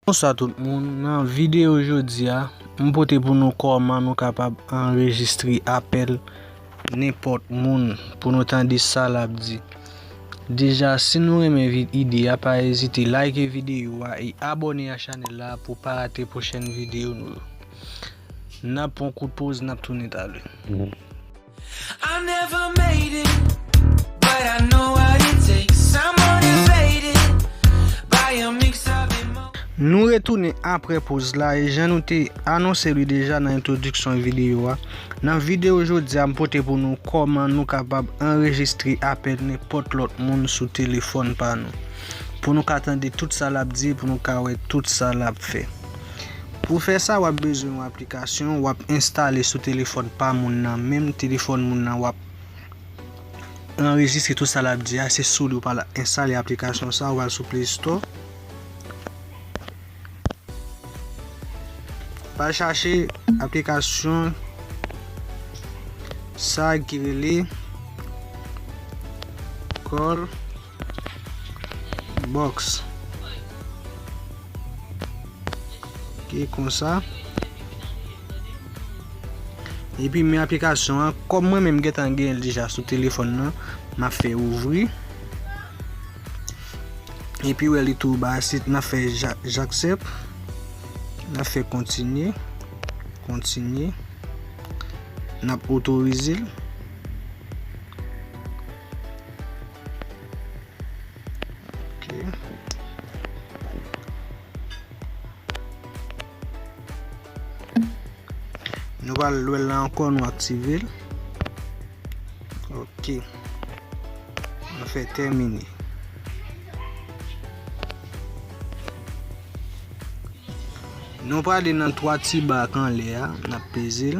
Bonswa tout moun, nan videyo jodi a, m pote pou nou kòman nou kapab anrejistre apèl nenpòt moun pou nou tande sa l ap di. Deja si nou renmen ide a pa ezite like videyo a e abòne a chanèl la pou w pa rate pwochèn videyo nou yo. N ap pran yon kout poz n ap tounen talè. Nou retounen apre poz la e jan nou te anonse li deja nan entwodiksyon videyo a, nan videyo jodi a m pote pou nou kòman nou kapab anrejistre apèl nenpòt lòt moun sou telefòn pa nou. Pou nou ka tande tout sa l ap di e pou nou ka wè tout sa l ap fè. Pou fè sa wap bezwen yon aplikasyon wap enstale sou telefòn pa moun nan menm telefòn moun nan wap anrejistre tout sa lap di a se sou li ou pral enstale aplikasyon sa ou pral sou play store pral chache aplikasyon sa ki rele kòl box ki konsa epi men aplikasyon an kòm mwen menm gentan gen l deja sou telefòn nan m ap fè ouvri epi wè li tou ba si nan fè jaksèp nan fè kontinye kontinye nan otorize l Nou va al lwèl la ankò nou aktive l. Ok. Nou fè tèmine. Nou va ale nan 3 ti bak anlè a. N ap peze l.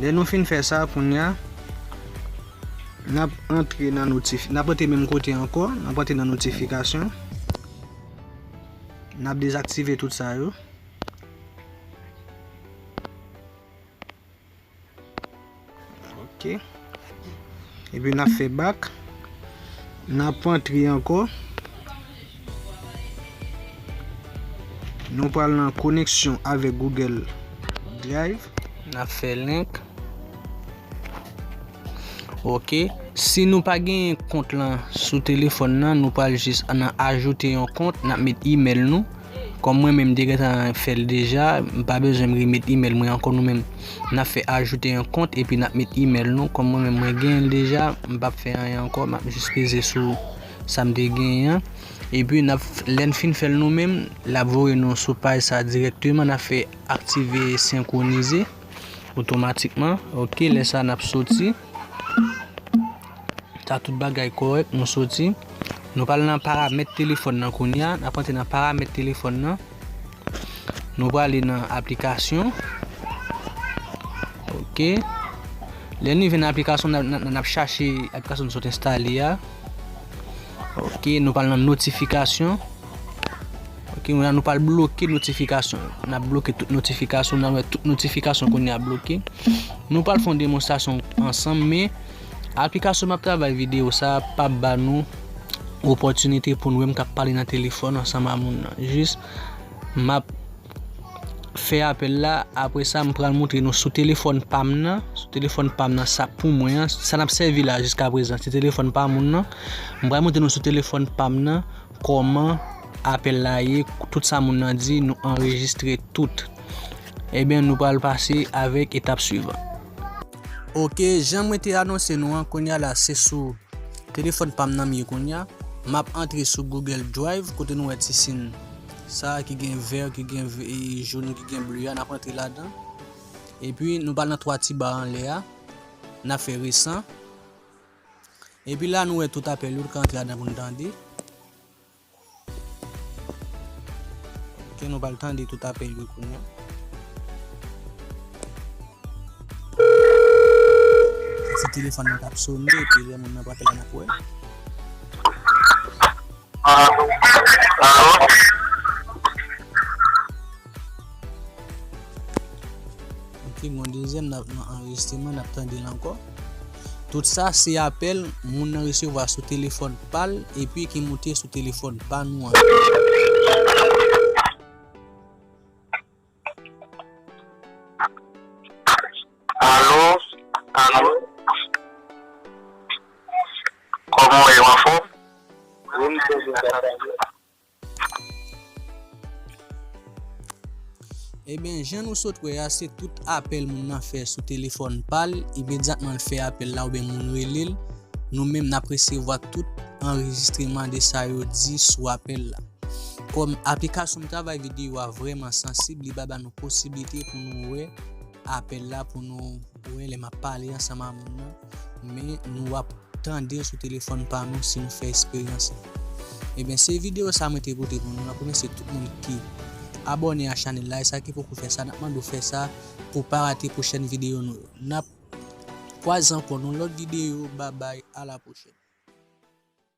Lè nou fin fè sa kounye a, n ap antre nan notif, n ap antre menm kote ankò, n ap antre nan notifikasyon. N ap dezaktive tout sa yo. Ok. Epi nan fe bak. Nan pran tri anko. Nou pral nan koneksyon avek Google Drive. Nan fe link. Ok. Si nou pa gen yon kont lan sou telefon nan, nou pral jis nan ajoute yon kont. Nan met email nou. Kòm mwen menm m te gentan fè l deja, m pa bezwen m remet email mwen ankò nou menm. N ap fè ajoute yon kont epi n ap met email nou. Kòm mwen menm mwen gen l deja, m pap fè anyen ankò. M ap jis peze sou sa m te genyen an. Epi n ap, lè n fin fè l nou menm, l ap voye nou sou paj sa dirèkteman. N ap fè aktive senkwonize otomatikman. Ok, lè sa n ap soti. Sa tout bagay kòrèk nou soti. Nou pral nan paramèt telefòn nan kounya. Nap antre nan paramèt telefòn nan. Nou prale nan aplikasyon. Ok. Lè nou vin nan aplikasyon nan ap chache aplikasyon nou sot enstale ya. Ok. Nou pral nan notifikasyon. Ok. Mwen nan nou pral bloke notifikasyon. Nan bloke tout notifikasyon. Nan wè tout notifikasyon kounya bloke. Nou pral fon demonstasyon ansanm men. Aplikasyon map travay video sa pap ba nou opòtinite poun wèm kap pale nan telefòn ansanm a moun nan jis map fè apèl la apre sa m pral moutre nou sou telefòn pam nan sou telefòn pam nan sa pou mwen an sa nap sèvi la jiska prezan se telefòn pa moun nan m pral moutre nou sou telefòn pam nan kòman apèl la ye tout sa moun nan di nou anrejistre tout ebyen nou pral pase avèk etap swivan. Ok jan mwen te anonse nou an kounya la se sou telefòn pam nan m ye kounya map antre sou google drive kote nou wè ti sin sa ki gen vert ki gen jaune ki gen bleu a nap antre ladan epi nou pal nan 3 ti ba anlè a nap fè resan epi la nou wè tout apèl yo nou ka antre ladan pou nou tande Ok nou pral tande tout apèl yo kounya. Se telefòn nan kap sone epi lè moun nan pa pran nap wè. Ok gon dezyèm nap nan anrejistreman nap tandel ankò. Tout sa se apèl moun nan resevwa sou telefòn pa l epi ki moute sou telefòn pa nou an. Ebyen jan nou sot wè a se tout apèl moun nan fè sou telefòn pal, imedyatman l fè apèl la oubyen moun rele l, nou menm nap resevwa tout anrejistreman de sa yo di sou apèl la. Kòm aplikasyon travay videyo a vrèman sansib li pa ba nou posiblite pou nou wè apèl la pou nou. Mwen lè map pale ansanm a moun nan, men nou ap tandel sou telefòn pa nou si nou fè esperyans lan. Ebyen se video sa mwen te pote pou nou, map remèsye tout moun ki abòne a chanèl la e sa ki poko fè sa nap mande w fè sa pou pa rate pwochèn video nou yo. Nap kwaze ankò nan yon lòt video babay a la pwochèn.